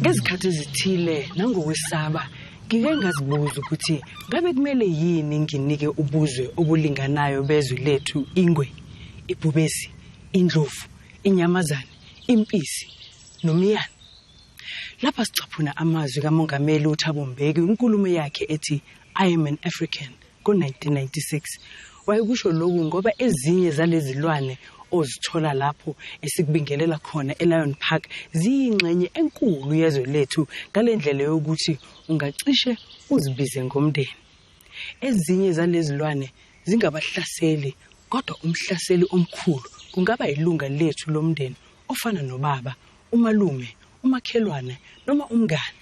ngezikhathi ezithile nangokwesaba ngike ngazibuza ukuthi ngabe kumele yini nginike ubuzwe obulinganayo bezwe lethu ingwe ibhubesi indlovu inyamazane impisi nomyana lapha sicaphuna amazwi kamongameli uthabo mbeki inkulumo yakhe ethi i am an african Ngo-1996 wayekusho lokhu ngoba ezinye zalezilwane ozithola lapho esikubingelela khona eLion Park ziyingxenye enkulu yezwe lethu ngalendlela yokuthi ungacishe uzibize ngomndeni. Ezinye zalezilwane zingabahlaseli kodwa umhlaseli omkhulu kungaba ilunga lethu lomndeni ofana nobaba umalume umakhelwane noma umngane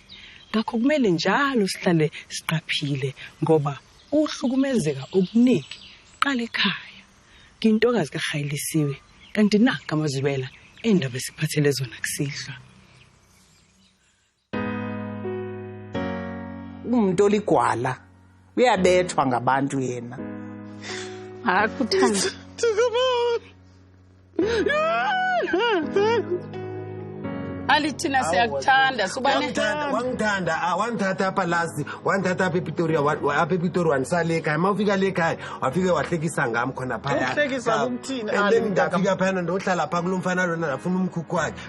ngakho kumele njalo sihlale siqaphile ngoba uhlukumezeka okuningi qala ekhaya ngintokazi kahayilisiwe kanti na kamazwibela endaba esiphathele zona kusihlwa umuntu oligwala uyabethwa ngabantu yena akuthanda ali thina siyakuthanda wangithanda ah, wangithatha apha lasi wangithatha apha epitoria apha epitori wandisala ekhaya ma ufika le khaya wafike wahlekisa ngam khona phayandafika phayana ndohlala phaa kulo mfana lona ndafuna umkhukhu wakhe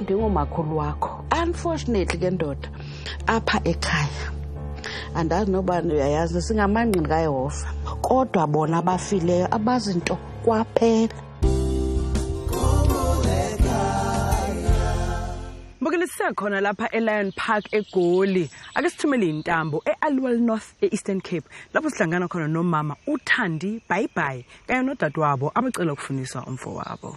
ndingumakhulu wakho unfortunately ke ndoda apha ekhaya andazi nobani uyayazi singamangqini kayehova kodwa bona abafileyo abazi nto kwaphela mbukeli sisekhona lapha elion park egoli ake sithumele intambo e-alwell north e-eastern cape lapho sihlangana khona nomama uthandi bhayibhayi kanye nodadewabo abacela ukufundiswa umfo wabo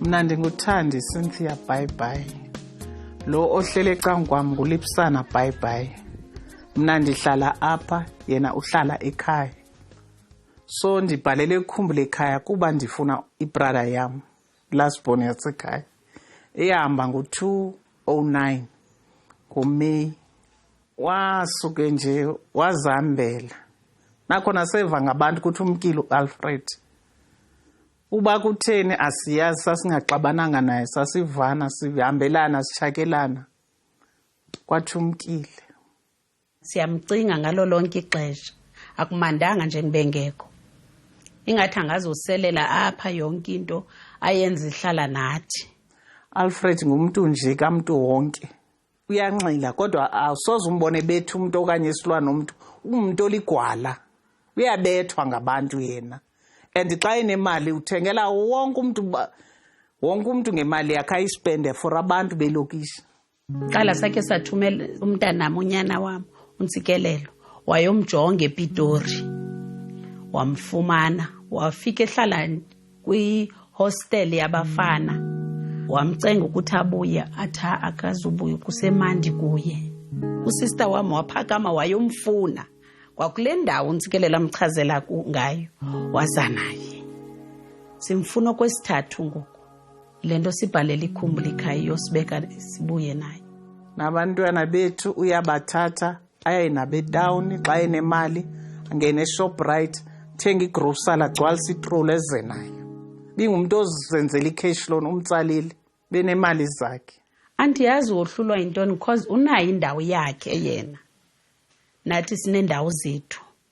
mna ndinguthandi cynthia bhayibhayi lo ohlele ecangu kwam ngulipsana bhayibhayi mna ndihlala apha yena uhlala ekhaya so ndibhalele kukhumbule ekhaya kuba ndifuna ibrada yam lastborn yasekhaya eyahamba ngo-209 ngomeyi wasuke nje wazihambela nakhona seva ngabantu ukuthi umkile u-alfred uba kutheni asiyazi sasingaxabananga naye sasivana sihambelana sishakelana kwathi umkile siyamcinga ngalo lonke ixesha akumandanga nje ngibengekho ingathi angazoselela apha yonke into ayenza ihlala nathi alfred ngumntu nje kamntu wonke uyanxila kodwa awusoze umbone bethu umuntu okanye isilwane umuntu ungumuntu oligwala uyabethwa ngabantu yena and xa enemali uthengela wonke umuntu wonke umuntu ngemali yakhe ayispende for abantu belokishi qala sakhe sathumela umntanami unyana wami untsikelelo wayomjonga epitori wamfumana wafika ehlala kwihostel yabafana wamcenga ukuthi abuye athi akazubuye kusemandi kuye usister wami waphakama wayomfuna kwakule ndawo unsikelela amchazela ngayo waza naye simfuna okwesithathu ngoku le nto sibhalela ikhumbula ikhaya iyosibeka sibuye naye nabantwana bethu uyabathatha aye nabo etawuni xa enemali angene eshoprite thenga igrosala gcwalisa itrolu eze nayo bingumntu ozenzela icash loan umtsalile benemali zakhe andiyazi wohlulwa yintoni because unayo indawo yakhe yena nathi sinendawo zethu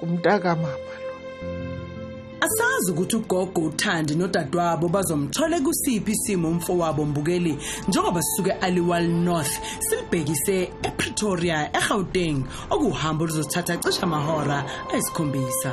kumntaka mama asazi ukuthi ugogo uthandi nodadewabo bazomthola kusiphi isimo umfowabo mbukeli njengoba sisuke aliwal north silibhekise epretoria egauteng okuhambo oluzothatha cishe amahora ayisikhombisa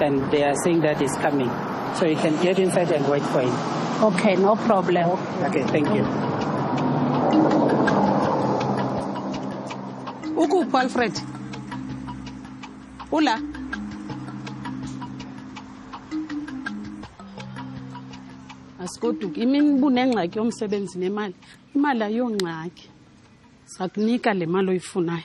And they are saying that it's coming. So you can get inside and wait for him. Okay, no problem. Okay, thank you. Ukuphi Alfred? Ula. Asikoduki imini bunengxaki yomsebenzi nemali. Imali ayongxaki. Sakunika le mali oyifunayo.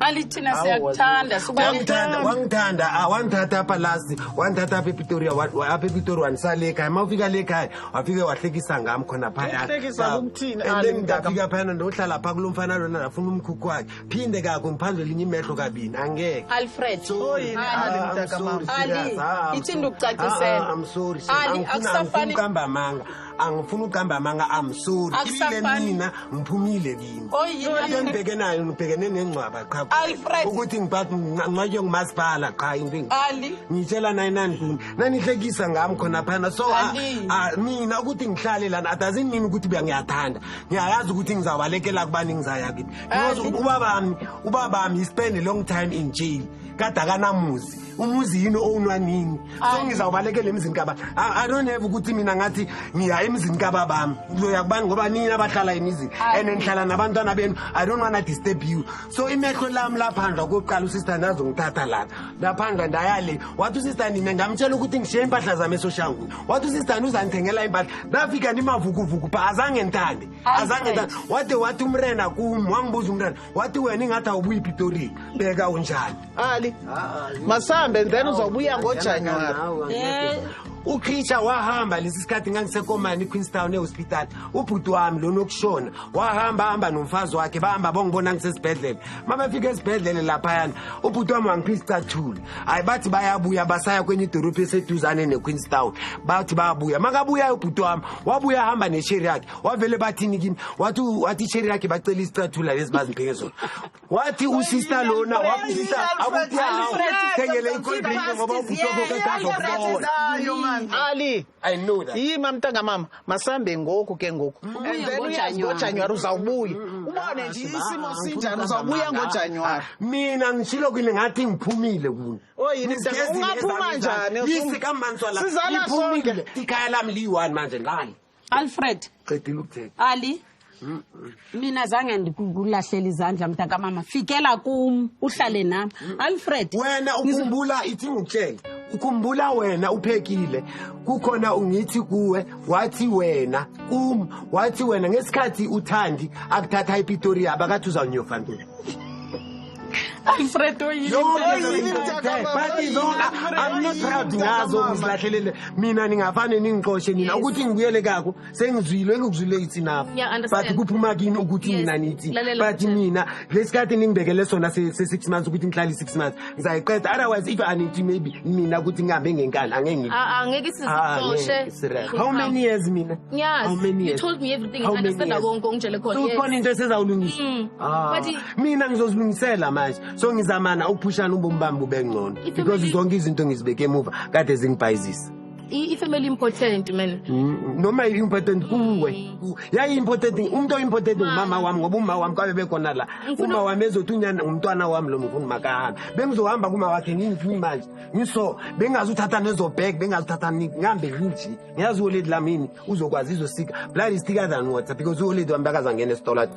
Ali thina siyakuthanda wangithanda wangithanda ah, wangithatha apha last wangithatha apha epretoria apha epretoria wandisale ekhaya ma ufika le khaya wafike wahlekisa ngam khona phayandafika phayana ndohlala phaa kulo mfana lona ndafuna umkhukhu wakhe phinde kako ngiphandle linye imehlo kabini angeke alfred ali ithinda ukucacisela ah, ah, akusafanihamba manga angifuni uqamba amanga am sorry ibile mina ngiphumile kimi into ngibheke nayo ngibhekene nengcwaba qha ukuthi ngingcwatywe ngumasipala qha into ngitshela naye nandluni nanihlekisa ngami khona phana so ah, ah, mina ukuthi ngihlale lana adazin mina ukuthi buya ngiyathanda ngiyayazi ukuthi ngizabalekela kubani ngizaya kithi because ubabami ubabami he spend a long time in jail kade akanamuzi umuzi yini owunwanini sengizawubalekela emzini kaba i don't have ukuthi mina ngathi ngiya emzini kaba bami ngizoya kubani ngoba nini abahlala emizini and ngihlala nabantwana benu i don't wanna disturb you so imehlo lami laphandla kokuqala usister ndazongithatha lana laphandla ndayale wathi usister nina ngamtshela ukuthi ngishiye impahla zami esoshangu wathi usister uzangithengela impahla ndafika ndimavukuvuku pha azange ngithande azange ngithande wade wathi umrena kum wangibuza umrena wathi wena ingathi awubuyi pitori beka unjani ali masambe then uzobuya ngojanuwari Eh, uchricha wahamba lesi sikhathi ngangisekomani equeenstown ehospital ubhuti wami lona okushona wahamba hamba nomfazi wakhe bahamba bongibona ngisesibhedlela uma befika esibhedlela laphayana ubhuti wami wangiphisa icathula hhayi bathi bayabuya basaya kwenye idorobhu eseduzane nequeenstown bathi bayabuya makabuyayo ubhuti wami wabuya ahamba nesheri yakhe wavele bathini kimi wathi wathi isheri lakhe bacela isicathula lezi bazimphinge zona wathi usista lona waphisa akuthengele icoldrink ngoba ubutokoketazokubola ali i know that yima mntanga mama masambe ngoku ke ngoku ngojanuwari uzawubuya mm, ubone ah, nje isimo ah, sinjani uzawubuya ngojanuwari ah, mina ngishilo kwini ngathi ngiphumile kuni oyini oh, ungaphuma njani yisi kambantswala iphumile ikhaya lami liyi-one manje ngani alfred qedile ukuthetha ali mina zange ndikulahlela izandla mntakamama fikela kum uhlale nam alfred wena ukhumbula ithi ngikutshele ukhumbula wena uphekile kukhona ungithi kuwe wathi wena kum wathi wena ngesikhathi uthandi akuthatha ipitoria abakathi uzawunyofa ntoni alfredo yiniamnotroud ngazo ngizilahlelele mina ningafane ningixoshe nina ukuthi ngibuyele kako sengizwile engikuzwile ithi nabo but kuphuma kini ukuthi mina nithi but mina lesikhathi ningibekele sona se-six months ukuthi ngihlale i-six months ngizayiqeda otherwise if anithi maybe mina ukuthi ngihambe ngenkani angengeke ah, ah, how many years mina how many years? You told me everything. How I understand. I won't go. How many years? So, into esezawulungisa. Mm. Ah. mina ngizozilungisela manje so ngizamana ukuphushana ubomi bami bube ngcono Ifamily- because zonke izinto ngizibeke emuva kade zingibhayizisa I- ifamily important man Mm, noma i-important kuwe Ku- yayi-important umuntu oyi-important ngumama wami ngoba umama wami kwabe bekhona la Ngifuna- uma wami ezothi unyana ngumntwana wami lo mfuni makahambe bengizohamba kuma wakhe ngingifuni manje ngiso bengazi uthatha nezobhek bengazi uthatha ni- ngihambe nginje ngiyazi uholedi lamini uzokwazi izosika blood is thicker than water because uholedi wami bekazangena esitolo athi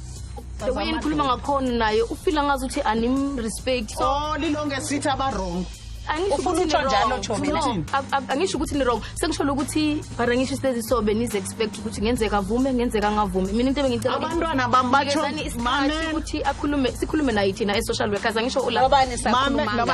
the way nikhuluma ngakhona naye ufila ngazi ukuthi anim-respect so oh, lilonge sithi abawrong angisho ukuthi nirong sengisholo ukuthi but angisho isilezi so benizi-expect ukuthi ngenzeka avume ngenzeka angavume mina into ebengicelabantwana bami bathoukuthi akhulume sikhulume naye thina e-social workers angisho ulanoba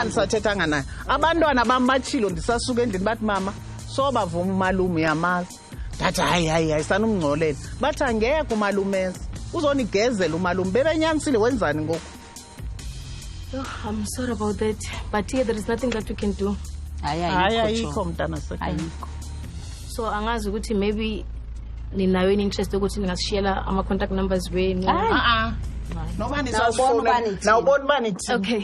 nisathethanga naye abantwana bami bachilo ndisasuke endlini bathi mama sobavuma umalume uyamazi ndathi hayi hayi hayi sanumngcolela bathi angeke umalumeza uzonigezela umalume bebenyanisile wenzani ngoku oh, i'm sorry about that but here there is nothing that we can do hayi ayikho mntana sekayikho so angazi ukuthi maybe ninayo yini interest yokuthi ningasishiyela ama-contact numbers wenu ah, ah. noba nisazifona nawubona uba nithini okay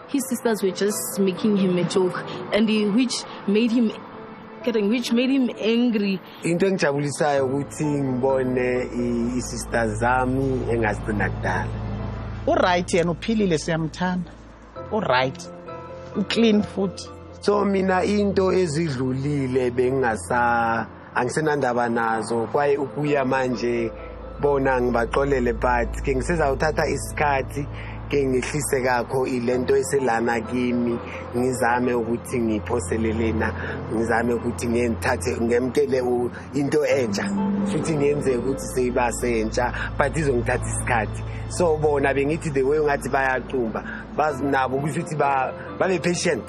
His sisters were just making him a joke and he, which made him getting which made him angry. Into engijabulisayo ukuthi ngibone isister zami engazibona kudala. U right yena uphilile siyamthanda. U right. U clean futhi. So mina into ezidlulile bengingasa angisenandaba nazo kwaye ukuya manje bona ngibaxolele but ke ngisezawuthatha isikhathi ke ngehlise kakho ilento eselana kimi ngizame ukuthi ngiphoselelena ngizame ukuthi ngenthathe ngemkele into entsha futhi ngenze ukuthi seyiba sentsha but izongithatha isikhathi so bona bengithi the way ungathi bayaqumba bazinabo ukuthi babe patient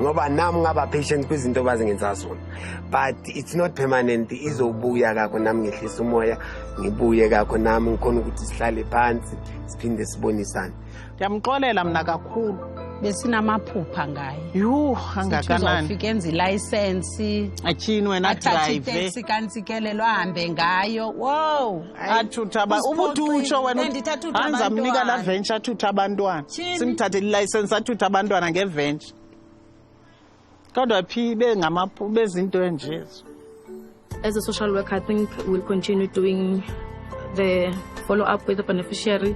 ngoba nami ngaba patient kwizinto bazingenza zona but it's not permanent izobuya kakho nami ngehlisa umoya ngibuye kakho nami ngikhona ukuthi sihlale phansi siphinde sibonisane ndiyamxolela mna kakhulu besinamaphupha ngaye yhu angakananizofika enza ilayisensi athini wena drive kantsikelelo ahambe ngayo wow athutha ubuthi utsho wena anza mnika la venture athutha abantwana simthathele ilicense athutha abantwana ngeventure kodwa phi bengamaphu bezinto enjezo as a social worker i think we'll continue doing the follow up with the beneficiary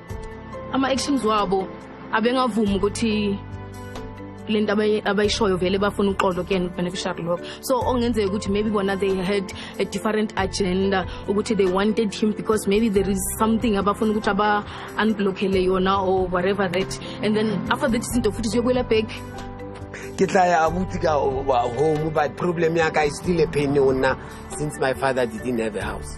ama-actions wabo abengavumi ukuthi le nto abayishoyo vele bafuna uxolo kuyena ukubeneficiary lokho so ongenzeka ukuthi maybe bona they had a different agenda ukuthi they wanted him because maybe there is something abafuna ukuthi aba-unblockele yona or whatever that and then after that izinto futhi ziyokwela back ke tla ya abuti ka home but problem ya ka is still a pain ona since my father didn't have a house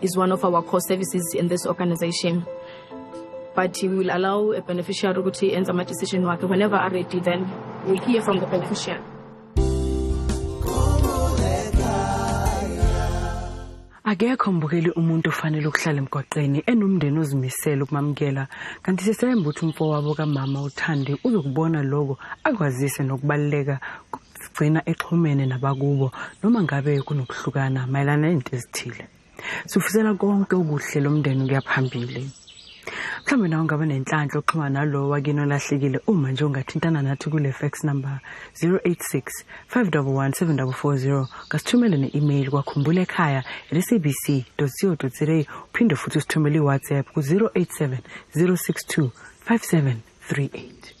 is one of our core services in this organization but he will allow a beneficiary ukuthi enze ama-decision wakhe whenever are ready then we hear from the beneficiary akekho mbukeli umuntu ofanele ukuhlala emgwaqeni enomndeni ozimisele ukumamukela kanti sisemba ukuthi umfowabo kamama uthandi uzokubona loko akwazise nokubaluleka sigcina exhumene nabakubo noma ngabe kunokuhlukana mayelana nezinto ezithile sifisela konke okuhle lo mndeni ukuya phambili mhlawumbe nawe ungaba nenhlanhla oxhuma nalowo wakini olahlekile uma nje ungathintana nathi kule fax number 086 511 740 kasithumele ne-email kwakhumbula ekhaya sabc co za uphinde futhi usithumele iwhatsapp ku-087 062 5738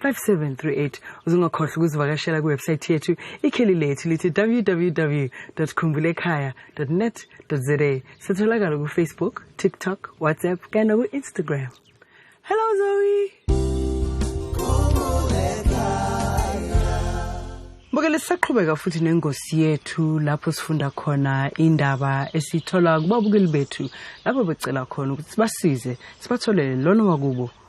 5738 uzungakhohlwa ukuzivakashela kwiwebsayithi yethu ikheli lethu lithi www khumbulekhaya net za sitholakala kufacebook tiktok whatsapp kanye naku-instagram hello zoe Mbukele sisaqhubeka futhi nengosi yethu lapho sifunda khona indaba esithola kubabukeli bethu lapho becela khona ukuthi sibasize sibatholele lona wakubo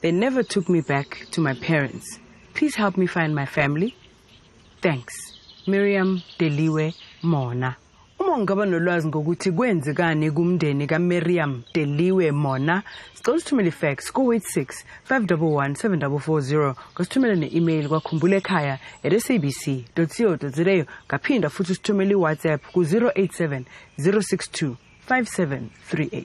They never took me back to my parents. Please help me find my family. Thanks. Miriam Deliwe Mona. Uma ungaba nolwazi ngokuthi kwenzekani kumndeni kaMiriam Deliwe Mona, sicela usithumele ifax ku-86 511 7440 ngasithumele ne-email kwakhumbula ekhaya at sabc co za ngaphinda futhi usithumele iwhatsapp ku-087 062 5738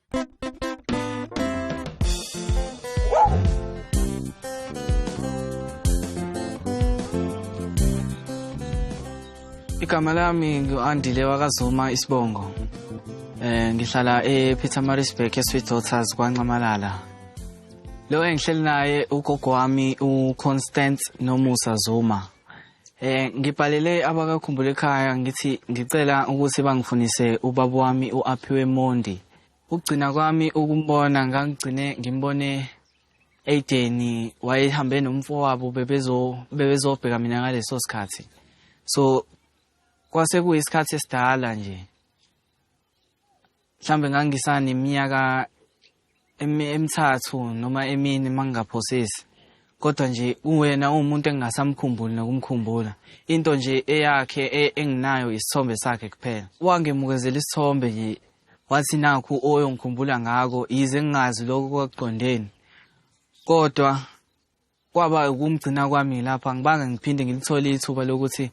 igama lami ngu-andile wakazuma isibongo eh ngihlala ePietermaritzburg eSweet Daughters kwaNxamalala lo engihleli naye ugogo wami uConstance Nomusa Zuma Eh ngibhalele abakakhumbule ekhaya ngithi ngicela ukuthi bangifundise ubaba wami uAphiwe Mondi. Ukugcina kwami ukumbona ngangigcine ngimbone Aideni wayehambe nomfowabo bebezo bebezobheka mina ngaleso sikhathi. So kwase kuyisikhathi esidala nje. mhlambe ngangisane iminyaka emithathu noma emini mangingaphosisi kodwa nje uwena uwumuntu engingasamkhumbuli nokumkhumbula into nje eyakhe e, enginayo isithombe sakhe kuphela wangemukezela isithombe nje wathi nakhu oyongikhumbula ngako yize ngingazi lokho kwakuqondeni kodwa kwaba ukumgcina kwami lapha ngibange ngiphinde ngilithole ithuba lokuthi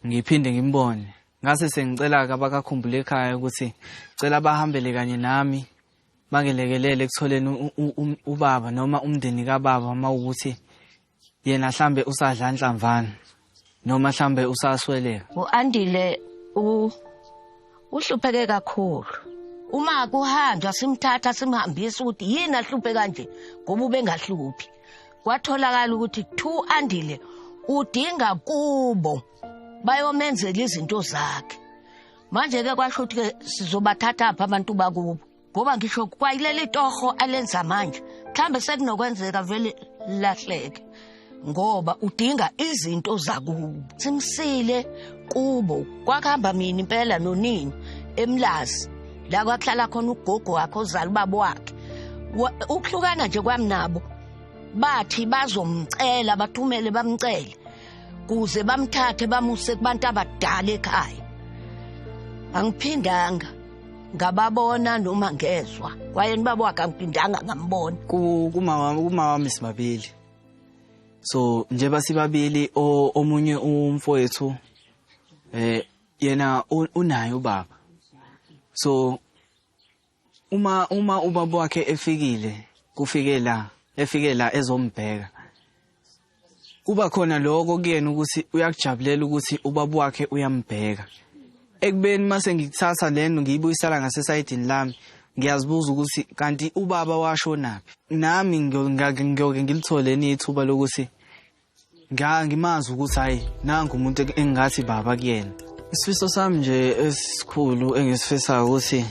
ngiphinde ngimbone ngase sengicela abakakhumbule ekhaya ukuthi cela bahambele kanye nami bangelekelele ekutholeni ubaba noma umndeni kababa uma ukuthi yena hlambe usadla nhlamvana noma mhlambe usasweleka uandile u uhlupheke kakhulu uma kuhanjwa simthatha simhambisa ukuthi yini ahluphe kanje ngoba ubengahluphi kwatholakala ukuthi thu andile udinga kubo bayomenzela izinto zakhe manje ke kwasho ukuthi ke sizobathatha apha abantu bakubo ngoba ngisho kwayileli torho alenza manje mhlambe sekunokwenzeka vele lahleke ngoba udinga izinto zakubo simsile kubo kwakuhamba mina impela nonini emlazi la kwakuhlala khona ugogo wakhe ozala ubaba wakhe ukuhlukana nje kwami nabo bathi bazomcela bathumele bamcele kuze bamthathe bamuse kubantu abadala ekhaya angiphindanga ngababona noma ngezwa kwaye nibaba wakhe angiphindanga ngambona kumawami sibabili so njengoba sibabili omunye umfowethu eh yena unaye ubaba so uma uma ubaba wakhe efikile kufike la efike la ezombheka kuba khona lokho kuyena ukuthi uyakujabulela ukuthi ubaba wakhe uyambheka ekubeni mase ngikuthatha lento ngiyibuyisela ngasesayidini lami ngiyazibuza ukuthi kanti ubaba washonaphi nami ngiyoke ngilithole nithuba lokuthi Ngiya ngimazi ukuthi hayi nangu umuntu engathi baba kuyena. Isifiso sami nje esikhulu engisifisayo ukuthi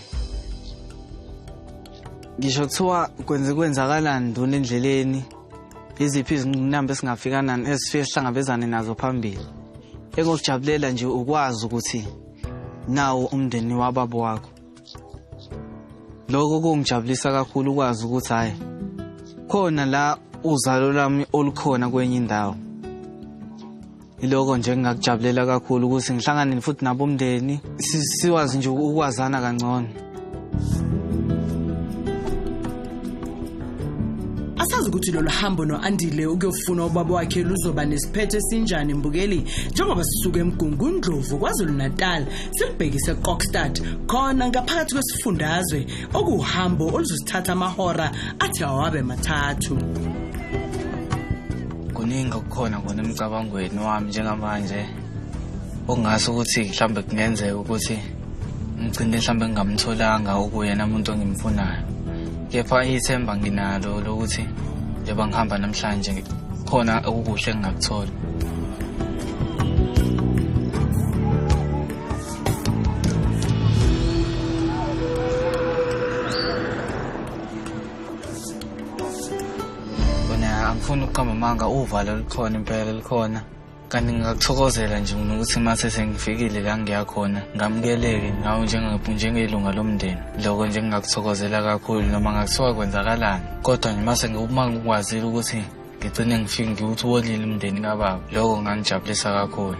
ngisho kuthiwa kwenze kwenzakalani nduna endleleni iziphi izinqinamba esingafika nani esifike sihlangabezane nazo phambili engokujabulela nje ukwazi ukuthi nawo umndeni wababa wakho lokho kungijabulisa kakhulu ukwazi ukuthi hhayi khona la uzalo lami olukhona kwenye indawo iloko nje ngingakujabulela kakhulu ukuthi ngihlangane futhi nabomndeni siwazi nje ukwazana kangcono asazi ukuthi lolu hambo no-andile ukuyofuna ubaba wakhe luzoba nesiphetho esinjani mbukeli njengoba sisuke emgungundlovu kwazulu-natal Silibhekise eKokstad khona ngaphakathi kwesifundazwe okuhambo oluzosithatha amahora athi awabe mathathu. Kuningi okukhona kona emcabangweni wami njengamanje okungase ukuthi mhlambe kungenzeka ukuthi ngigcine mhlambe ngingamtholanga ukuyena umuntu ongimfunayo. Kepha ithemba nginalo lokuthi njengoba ngihamba namhlanje khona okukuhle engingakuthola. Wena angifuni ukuqamba amanga uvalo likhona impela likhona. Kanti ngingakuthokozela nje mina ukuthi mase sengifikile la ngiya khona ngamukeleke ngawo njenge- njengelunga lomndeni. Lokho nje ngingakuthokozela kakhulu noma ngakuthiwa kwenzakalani. Kodwa nje mase ngiwuma ngikwazile ukuthi ngigcine ngifike ngiwuthi wolile umndeni kababa lokho ngangijabulisa kakhulu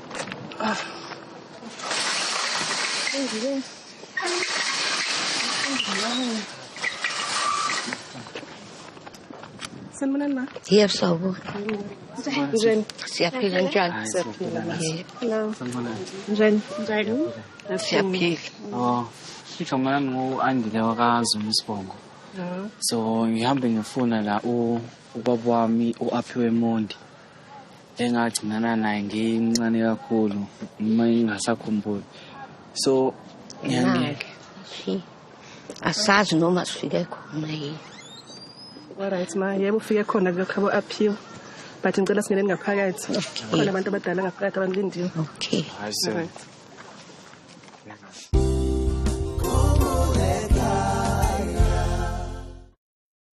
Sanibonani ma. Yebo sawubona. Njani? Siyaphila njani? Siyaphila. Hello. Njani? Njani? Siyaphila. Oh. Igama lami ngu-Andile wakaZuma isibongo. Mm-hmm. So ngihambe ngifuna la ubaba wami u-Aphiwe Mondi. engagcinana naye ngincane kakhulu uma ingasakhumbuli so ngiyangeke asazi noma sifike khona yini Alright ma yebo ufike khona kuyokhabo aphiwa but ngicela singeneni ngaphakathi khona abantu abadala ngaphakathi abangilindiwe okay hayi sir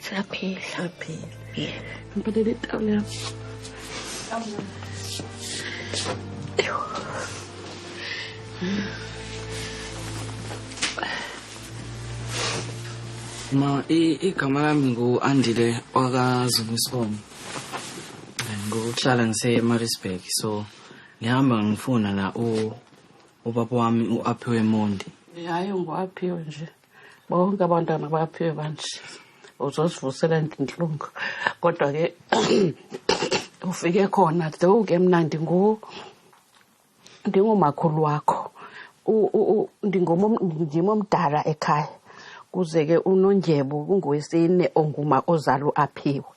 Siyaphila. Siyaphila. Yebo. Ngibelele itawula yami. Eyo. Ma igama lami ngu-Andile wakaZumisikomo. Ngokuhlala ngise-Maritzburg so ngihamba ngifuna la ubaba wami u-Aphiwe Mondi. Hayi ngu-Aphiwe nje. bonke abantwana baphiwe manje uzosivusela intlungu kodwa ke ufike khona though ke mna ndingu ndingumakhulu wakho ndim omdala ekhaya kuze ke unondyebo kungowesine onguma ozalo aphiwe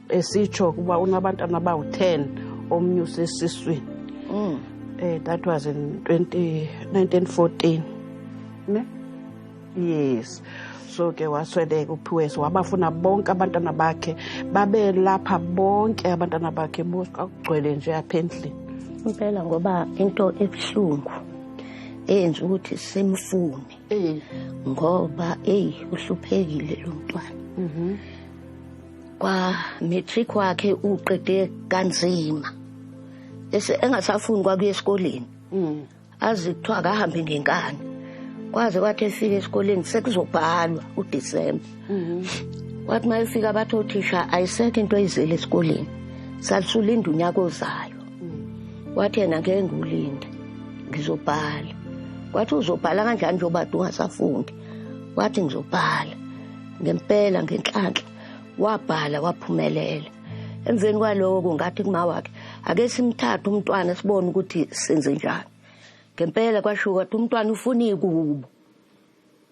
esitsho ukuba unabantwana abawu-10 omnye usesiswini mm. eh that was in 20 1914 ne yes so ke wasweleka uphiwesi wabafuna bonke abantwana bakhe babelapha bonke abantwana bakhe bonke akugcwele nje apha endlini impela ngoba into ebuhlungu eyenza ukuthi simfune eh. ngoba eyi uhluphekile lo mntwana mhm. kwa matric wakhe uqede kanzima ese engasafuni kwakuya esikoleni mm. azi kuthiwa akahambe ngenkani kwaze kwathi efika esikoleni sekuzobhalwa udisemba mm-hmm. wathi uma efika bathi othisha ayisekho into oyizele esikoleni salisulinda unyaka ozayo mm. wathi yena ngeke ngiwulinde ngizobhala wathi uzobhala kanjani njengoba ungasafundi wathi ngizobhala ngempela ngenhlanhla wabhala waphumelela emveni kwaloko ngathi kuma wakhe ake simthathe umntwana sibone ukuthi senze njani ngempela kwasho ukuthi umntwana ufuna ikubo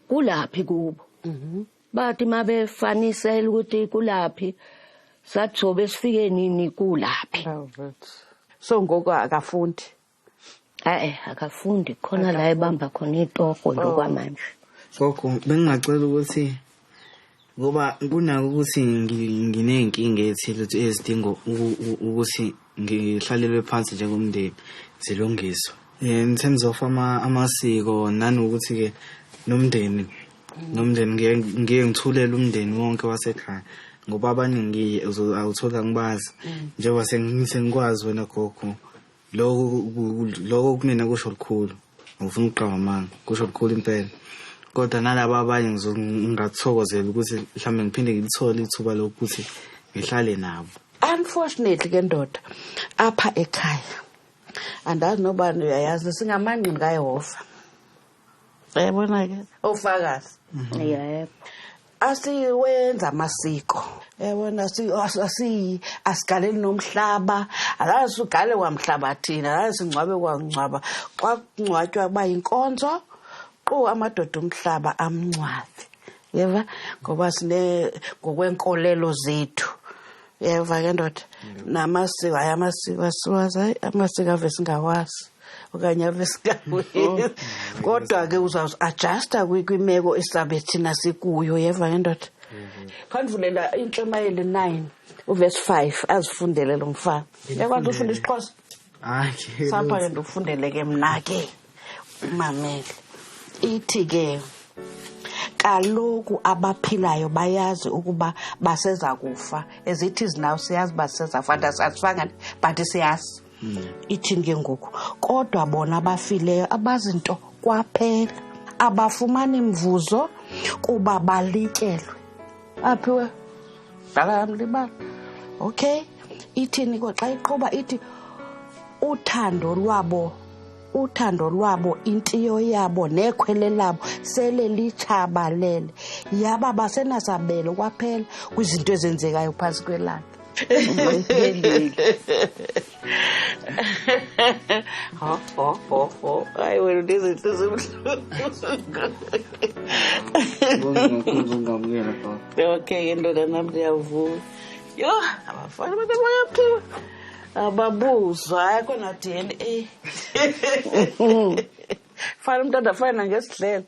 kulaphi kubo mhm. bathi mabefanisela ukuthi kulaphi sathobe sifike nini kulaphi so ngoko akafundi Hayi akafundi khona la ebamba khona itoko nje oh. kwamanje. Gogo bengingacela ukuthi ngoba kunako ukuthi nginey'nkinga ethile ezidinga ukuthi ngihlalelwe phansi njengomndeni zilungiswe in terms of amasiko nanokuthi-ke nomndeni nomndeni ngiye ngithulele umndeni wonke wasekhaya ngoba abaningi awuthola ngibazi mm. njengoba sengikwazi wena gogo lokho lokho kumina kusho lukhulu ngifuna ukuqamba amanga kusho lukhulu impela kodwa nalabo abanye ngingathokozela ukuthi mhlawumbe ngiphinde ngilithole ithuba lokuthi ngihlale nabo unfortunately ke ndoda apha ekhaya andazi nobani uyayazi singamangqini kayehova yabona-ke ofakazi mhm. yebo asiwenza amasiko yabona asiyi asigaleli nomhlaba akazi ugale kwamhlaba thina akazi singcwabe kwangcwaba xa kungcwatywa kuba yinkonzo qu amadoda umhlaba amncwabe yeva ngoba sine ngokwenkolelo zethu yeva ke ndoda namasiko hayi amasiko asiwazi hayi amasiko ave singawazi okanye ave singawenzi kodwa ke uzawuzi adjusta kwimeko esizabe thina sikuyo yeva ke ndoda khandivulela intshumayeli nine uvesi five azifundele lo mfana yakwazi ufunda isixhosa sapha ke ndikufundele ke mna ke mamele ithi ke kaloku abaphilayo bayazi ukuba baseza kufa as it is now siyazi uba sisezafa and asifangani but siyazi hmm. ithini ke ngoku kodwa bona abafileyo abazi nto kwaphela abafumani mvuzo kuba balityelwe aphiwe dala yam libala okay ithini ko xa iqhuba ithi uthando lwabo uthando lwabo intiyo yabo nekhwele labo sele litshabalele yaba basenasabelo kwaphela kwizinto ezenzekayo phantsi kwelanga ho ho ho ho hayi wena unezinto zomhlungungamukela okay indoda nami ndiyavuma yho abafana abantu abayaphuma ababuzwa hayi kona d n a fana umntu andafana nangesidlela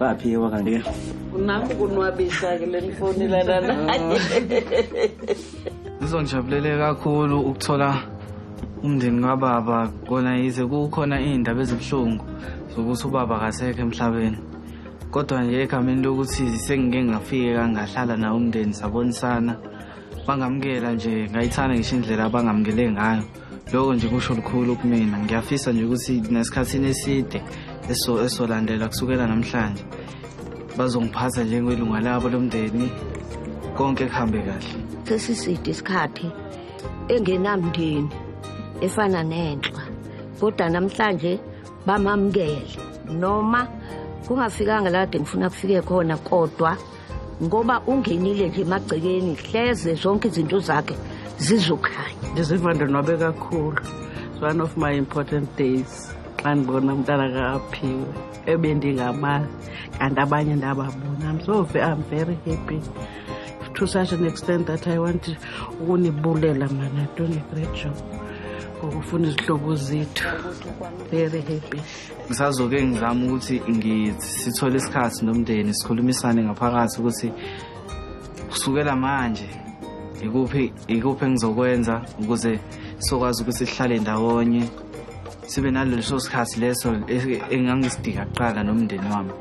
baphiwa kanti ke nami kunwabisa-ke le nifonelana naye ngizongijabulele kakhulu ukuthola umndeni kababa kona yize kukhona iy'ndaba ezibuhlungu zokuthi ubaba kasekho emhlabeni kodwa nje egameni lokuthi sengike ngafike kangahlala nawo umndeni sabonisana bangamukela nje ngayithanda ngisho indlela abangamukele ngayo loko nje kusho lukhulu kumina ngiyafisa nje ukuthi nesikhathini eside esolandela kusukela namhlanje bazongiphatha njengelunga labo lomndeni konke kuhambe kahle sesiside isikhathi engenamndeni efana nenhlwa kodwa namhlanje bamamukele noma kungafikanga lade ngifuna kufike khona kodwa ngoba ungenile nje emagcekeni hleze zonke izinto zakhe zizokhanya ndiziva ndonwabe kakhulu it's one of my important days xa ndibona umntana kaphiwe ebendingamazi kanti abanye ndababona i'm so i'm very happy to such an extent that i want ukunibulela mana done a great job ngokufuna izihlobo zethu very happy ngisazoke ngizama ukuthi sithole isikhathi nomndeni sikhulumisane ngaphakathi ukuthi kusukela manje ikuphi ikuphi engizokwenza ukuze sokwazi ukuthi sihlale ndawonye sibe naleso sikhathi leso engangisidika kuqala nomndeni wami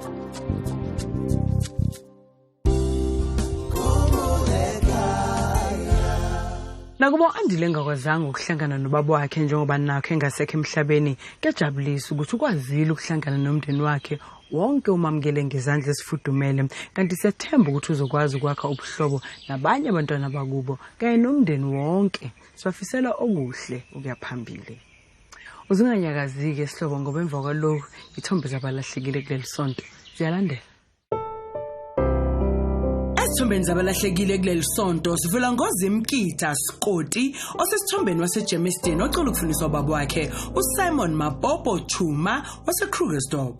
nakuba u-andile engakwazanga ukuhlangana nobaba wakhe njengoba nakho engasekho emhlabeni kuyajabulisa ukuthi ukwazile ukuhlangana nomndeni wakhe wonke umamukele ngezandla esifudumele kanti siyathemba ukuthi uzokwazi ukwakha ubuhlobo nabanye abantwana bakubo kanye nomndeni wonke sibafisela okuhle ukuya phambili uzinganyakazike sihlobo ngoba emva kwaloku ithombe zabalahlekile kuleli sonto ziyalandela Esithombeni zabalahlekile kuleli sonto sivula ngoZimkitha Skoti osesithombeni waseGermiston ocela ukufundiswa ubaba wakhe uSimon Mapopo Chuma waseKrugersdorp.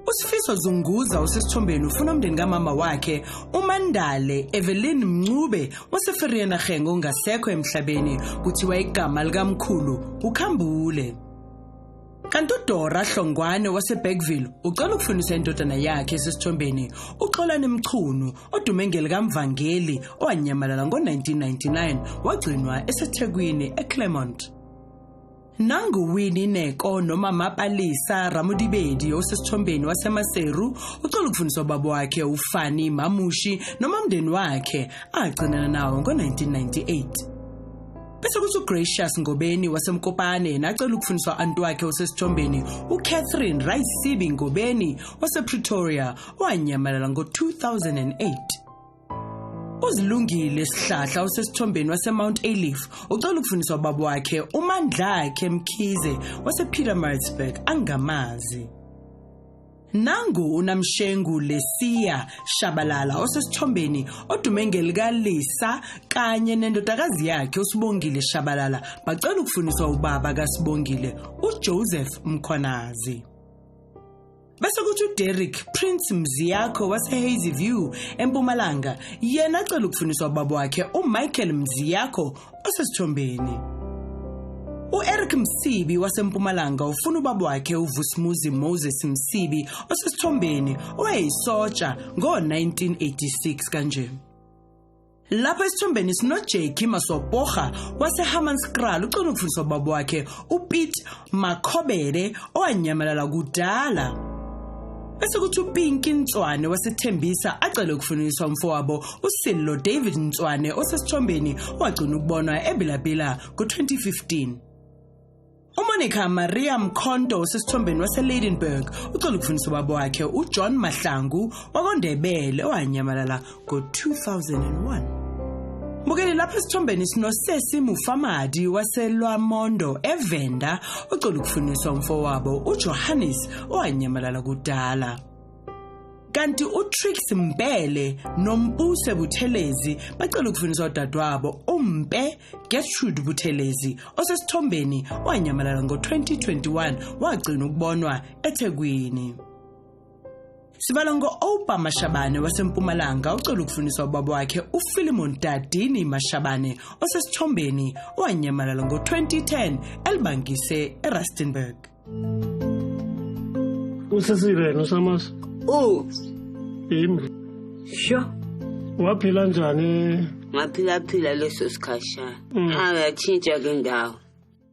Usifiso Zunguza osesithombeni ufuna umndeni kamama wakhe uMandale Evelyn Mncube waseFerienagengo ongasekho emhlabeni kuthiwa igama likamkhulu uKhambule. Kanti uDora Hlongwane waseBergville ucela ukufundisa indodana yakhe esesithombeni uXolani Mchunu odume ngelikamvangeli owanyamalala ngo-1999 wagcinwa eseThekwini eClermont. nanguwini neko noma mapalisa ramudibedi osesithombeni wasemaseru ucela ukufundisa ubaba wakhe ufani mamushi noma umndeni wakhe agcinana nawo ngo-1998 bese kuthi ugracious ngobeni wasemkopane yena acela ukufundiswa anti wakhe osesithombeni ucatherine rayisibi ngobeni wasepretoria owanyamalala ngo-2008 uzilungile sihlahla osesithombeni wasemount alif ucela ukufundiswa ubaba wakhe umandlakhe mkhize wasepyramidsburg angamazi Nangu uNamshengu Lesia Shabalala osesithombeni odume ngelikalisa kanye nendodakazi yakhe uSibongile Shabalala bacela ukufuniswa ubaba kaSibongile uJoseph Mkhwanazi. Bese kuthi uDerrick Prince Mziyakho waseHazy View eMpumalanga yena acela ukufuniswa ubaba wakhe uMichael Mziyakho osesithombeni U-Eric Msibi waseMpumalanga ufuna ubaba wakhe uVusmuzi Moses Msibi osesithombeni owayeyisotsha ngo-1986 kanje. Lapha esithombeni sinoJackie Masopoha waseHammanskraal ucela ukufundisa ubaba wakhe uPete Makhobele owanyamalala kudala. Bese kuthi uPinki Ntswane wasethembisa acele ukufuniswa umfowabo uSillo David Ntswane osesithombeni wagcina ukubonwa eBilabila ngo-2015. UMonica Maria Mkhonto osesithombeni waseLeidenburg ucela ukufuniswa ubaba wakhe uJohn Mahlangu wakwaNdebele owanyamalala ngo-2001 Bukele lapha esithombeni sinosesi Mufamadi waselwaMondo eVenda ocela ukufuniswa umfowabo uJohannes owanyamalala kudala. Kanti uTrix Mbele noMpuse Buthelezi bacela ukufuniswa udadewabo uMpe Gertrude Buthelezi osesithombeni owanyamalala ngo-2021 wagcina ukubonwa eThekwini. Sibala ngo-Oupa Mashabane waseMpumalanga ocela ukufundiswa ubaba wakhe uPhilemon Dadini Mashabane osesithombeni owanyamalala ngo-2010 elibangise eRustenburg. Usesiveni uSamas? U. Yimi. Sho. Waphila njani? Ngaphila phila leso sikhashana. Mm. Ayatshintsha ke ndawo.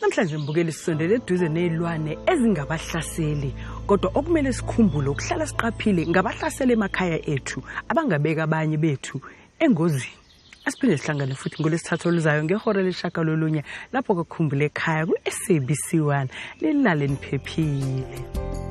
Namhlanje mbukeli sisondele eduze nezilwane ezingabahlaseli kodwa okumele sikhumbule ukuhlala siqaphile ngabahlasela emakhaya ethu abangabeka abanye bethu engozini. Asiphinde sihlangane futhi ngolesithathu oluzayo ngehora leshaka lolunye lapho kokhumbule ekhaya ku-SABC 1 lilale niphephile.